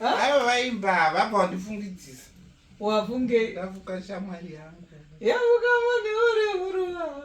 ava vaimba havabva wandifungidzisa wafunge ndafuka shamwari yangu yavuka mune uri huruva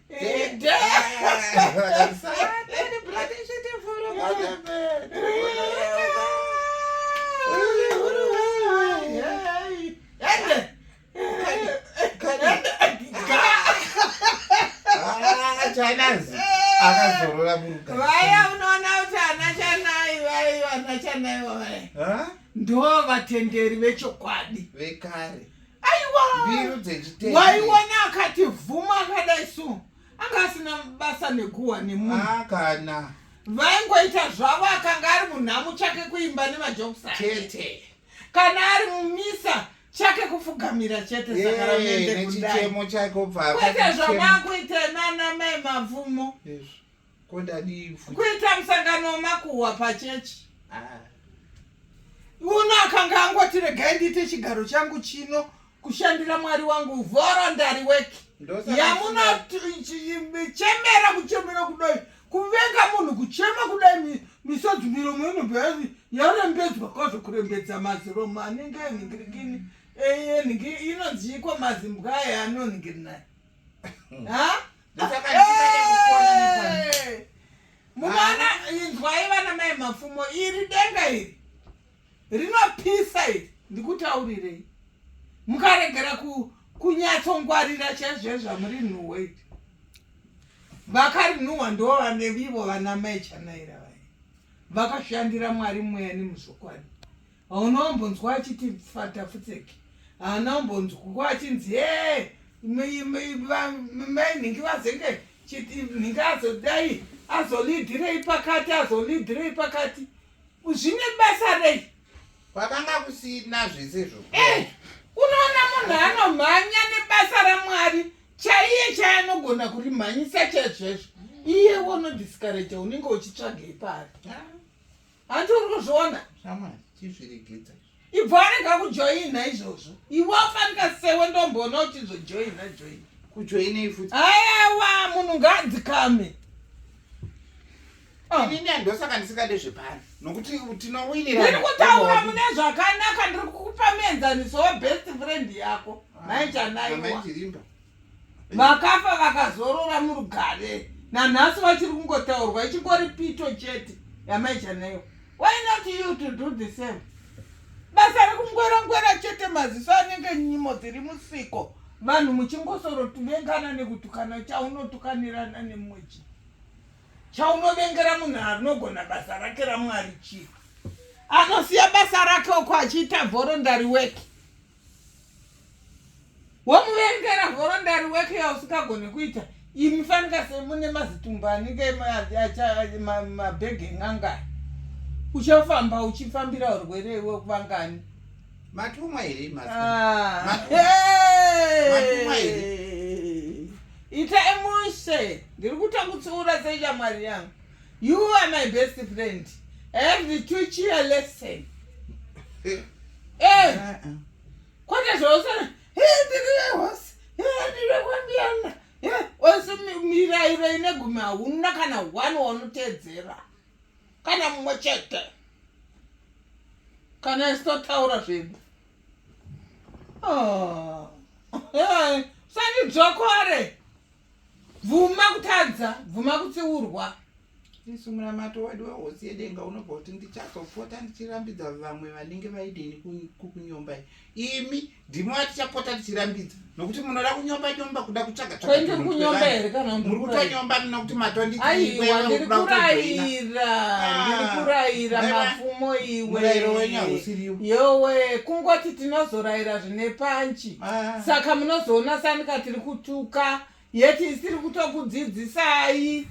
chanazi akazorora muruka vaya unoona kuti ana chanai vai vana chanai vavaya ndo vatenderi vechokwadi vekare aiwa mbiru dzechitete waiona akati vhuma akadai so anga asina basa nekuwa nemunhu ah, kana vaingoita zvavo akanga ari munhamu chake kuimba nemajobsa chete kana ari mumisa chake kufugamira chete sakarameende kudakwete zvamaakuita nana mai mabvumo Ko ndadii futi? Kuita musangano wemakuhwa pachechi. Ah. Uno akanga angoti regai ndiite chigaro changu chino kushandira Mwari wangu voluntary work. Ndosaka Yamunochemera kuchemera kudai. Kuvenga munhu kuchema kudai mi- misodzi miromo inobva yazi yarembedzwa kwazvo kurembedza maziromo anenge anhingirikini. Eye nhingi inonziiko mazimbwa aya anonhingirina. Ha? munoona inzwai vana mai mapfumo iri denga iri rinopisa iri ndikutaurirei mukaregera kunyatsongwarira chaizvo zvamuri nhuhwa iri vakarinhuhwa ndo vane vivo vana mai chanaira vaye vakashandira mwari mweya nemuzokwadi hauna ombonzwa achiti fata futseki haana ombonzwa achinzi e mainhingi vazenge nhingi azodai azolidirei pakati azolidirei pakati zvine basa rei kwakanga kusina zvese zvo eh, unoona munhu anomhanya nebasa ramwari chaiye chaanogona kurimhanyisa chaizvezvo iye wonodisikareja unenge uchitsvagei paari ah. hanti uri kuzviona shamwari chizviregedza ibvo arega kujoina izvozvo iwe afanika sewe ndomboona uchizojoina joina kujoinei futi ayawa munhu ngaadzikame ah. inini andosaka ndisingade zvepano nokuti tinowinirandiri kutaura mune zvakanaka ndiri kukupa muenzaniso webest friend yako ah, maichanaiwa vakafa vakazorora murugare nanhasi vachiri kungotaurwa ichingori pito chete yamaichaneyo why not you to do the same basa rekungwerangwera chete maziso anenge nyimo dziri musiko vanhu muchingosoro tuvengana nekutukana chaunotukanirana nemumwe chii chaunovengera munhu anogona basa rake ramwari chii anosiya basa rake uko achiita vhorondari weki womuverengera nhorondari weke yausingagone kuita imi fanika semune mazitumba anenge mabhegi en'angai uchafamba uchifambira urwere iwe kuvangani matumwa here ah. ita emushe ndiri kutangutsiura seichamwari yangu You are my best friend. I have the two cheer lesson. Eh. Eh. Uh-uh. Kwata zvosana. Eh, ndiri hosi. Eh, ndiri kwambiana. Eh, ose mirairo ine gumi hauna kana one waunotedzera. Kana mumwe chete. Kana isotaura zvinhu. Oh. Eh, sani dzokore. bvuma kutadza bvuma kutsiurwa isu munamato wedu wehosi yedenga unobva kuti ndichazopota ndichirambidza vamwe vanenge vaidini kukunyomba imi ndimi vatichapota tichirambidza nokuti munoda kunyomba nyomba kuda kutsvaga tsvagakunyomba here kana muri kutonyomba muna kuti matonditiiweurayira ndiri kurayira ah, mapfumo iwe yowe kungoti tinozorayira zvine panchi ah. saka munozoona sanika tiri kutuka yeti isiri kutokudzidzisai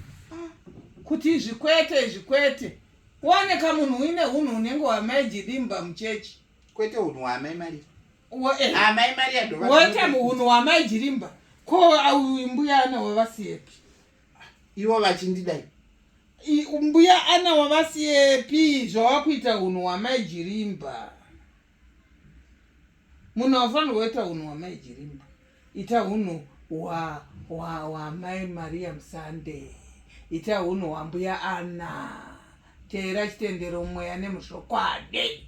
kuti izvi kwete izvi kwete wooneka munhu uine unhu unenge wamaijidimba muchechi kwete unhu waamai maria eh. amai maria ndowoite unhu wamaijirimba ko mbuya ana wavasiyepi ivo vachindidai mbuya ana wavasiyepi zvawava kuita unhu wamaijirimba munhu haufanirwa kuita hunhu hwamai jirimba ita hunhu hwamai maria musande ita hunhu hwambuya ana teera chitendero mweya nemuzvokwadi